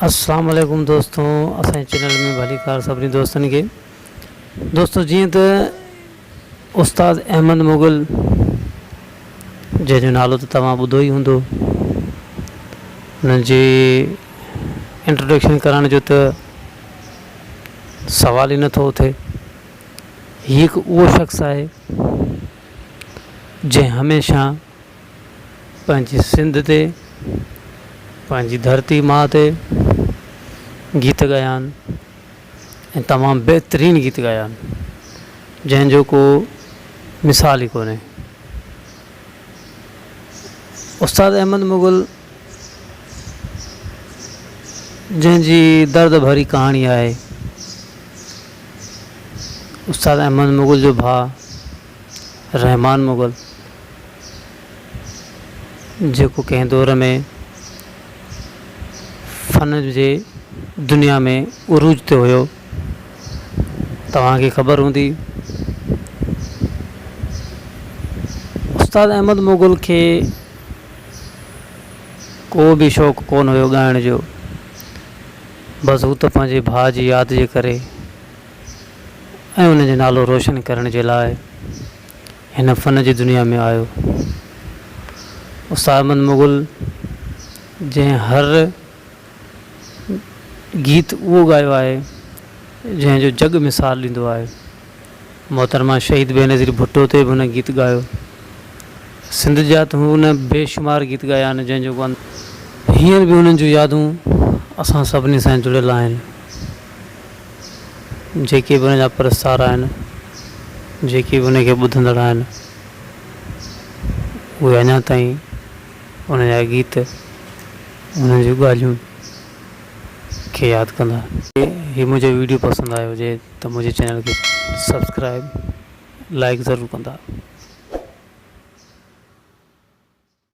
السلام عليڪم دوستو اسان جي چينل ۾ ڀليڪار سڀني دوستن کي دوستو جيئن ته استاد احمد مغل جنهن جو نالو ته توهان ٻڌو ئي هوندو هن جي انٽروڊڪشن ڪرڻ جو ته سوال ئي نٿو اٿي هي هڪ اهو شخص آهي جنهن هميشه پنهنجي سنڌ تي پنهنجي ڌرتي ماء تي گيت ڳايا آهن ۽ تمام بهترين گيت ڳايا آهن جنهن جو ڪو مثال ئي ڪونهي استاد احمد مغل جنهن جي درد ڀري ڪهاڻي آهي استاد احمد مغل جو ڀاء رحمان مغل جيڪو ڪنهن دور ۾ فن جي دنيا ۾ عروج تي هيو توهانکي خبر هوندي استاد احمد مغل کي ڪو به شوق ڪونه هيو ڳائڻ جو بس هو ته پنهنجي ڀاء جي ياد جي ڪري ۽ ان جو نالو روشن ڪرڻ جي لاء هن فن جي دنيا ۾ آيو. استاد احمد مغل جنهن هر گيت اهو ڳايو آهي جنهن جو جڳ مثال ڏيندو آهي. محترمه شهيد بينظير ڀٽو تي به هن گيت ڳايو. سنڌ جا ته هن بيشمار گيت ڳايا آهن جنهن جو ڪو اندازو ناهي. هينئر به انهن جون يادون اسان سڀني سان جڙيل آهن. جيڪي به ان جا پرستار آهن، جيڪي به ان کي ٻڌندڙ آهن، اهي اڃا تائين ان جا گيت، ان جون ڳالهيون کي ياد ڪندا. هي منهنجو ويڊيو پسند آيو هجي ته منهنجي چينل کي سبسڪرائب لائڪ ضرور ڪندا.